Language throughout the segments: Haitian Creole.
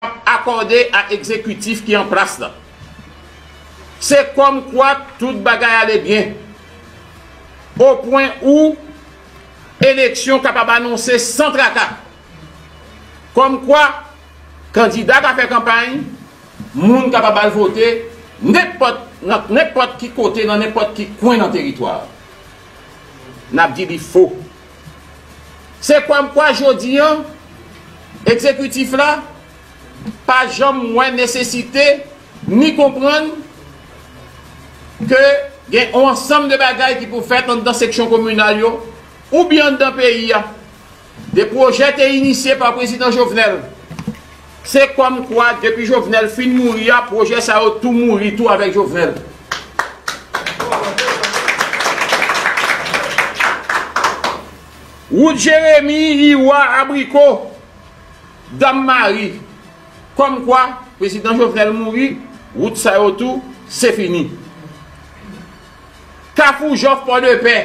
ap akòde a ekzekitif ki an plas la. Se kòm kwa tout bagay ale byen, o pwen ou eleksyon kapab anonse san traka. Kòm kwa kandida ka fè kanpay, moun kapab al vote nenpòt nan nenpòt ki kote nan nenpòt ki kwen nan teritwa a. N ap di li fo. Se kòmkwa jodi an, Egzekitif la pa janm wè nesesite ni konprann ke gen yon ansanm de bagay ki pou fèt anndan seksyon kominal yo oubyen anndan peyi a. De pwojè te inisye pa Prezidan Jovenel. Se kòm kwa depi Jovenel fin mouri a pwojè sa yo tou mouri tou avèk Jovenel. Wout Jeremi, Iwa, Abriko, Dam Mari. Kòm kwa prezidan Jovenel mouri, wout sa yo tou se fini. Kafou Jòf Pòdepè.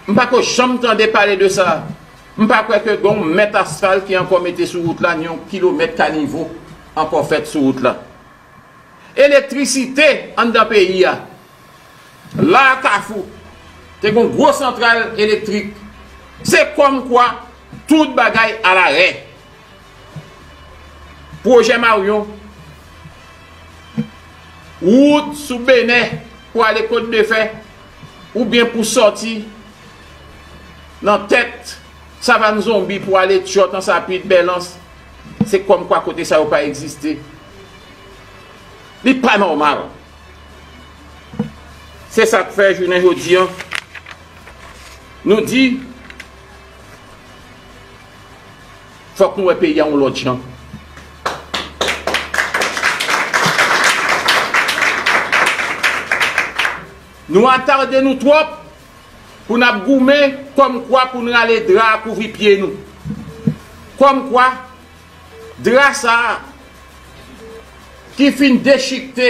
M pa ko janm tande pale de sa. M pa kwè ke gen yon mèt asfal ki ankò mete sou wout la ni yon kilomèt kanivo ankò fèt sou wout la. Elektrisite anndan peyi a. La a Kafou te gen yon gwo santral elektrik. Se kòmkwa tout bagay alarè. Pwojè Maryon, Wout sou Benè pou ale Kotdefè oubyen pou sòti nan tèt Savann Zonbi pou ale Tyòt, Ansapit, Bèlans, se kòmkwa kote sa yo pa egziste. Li pa nòmal. Se sa k fè jounen jodi an nou di. Fòk nou wè peyi a yon lòt jan. Nou atarde nou twòp pou n ap goumen kòmkwa pou n rale dra a kouvri pye nou. Kòmkwa dra sa a ki fin dechikte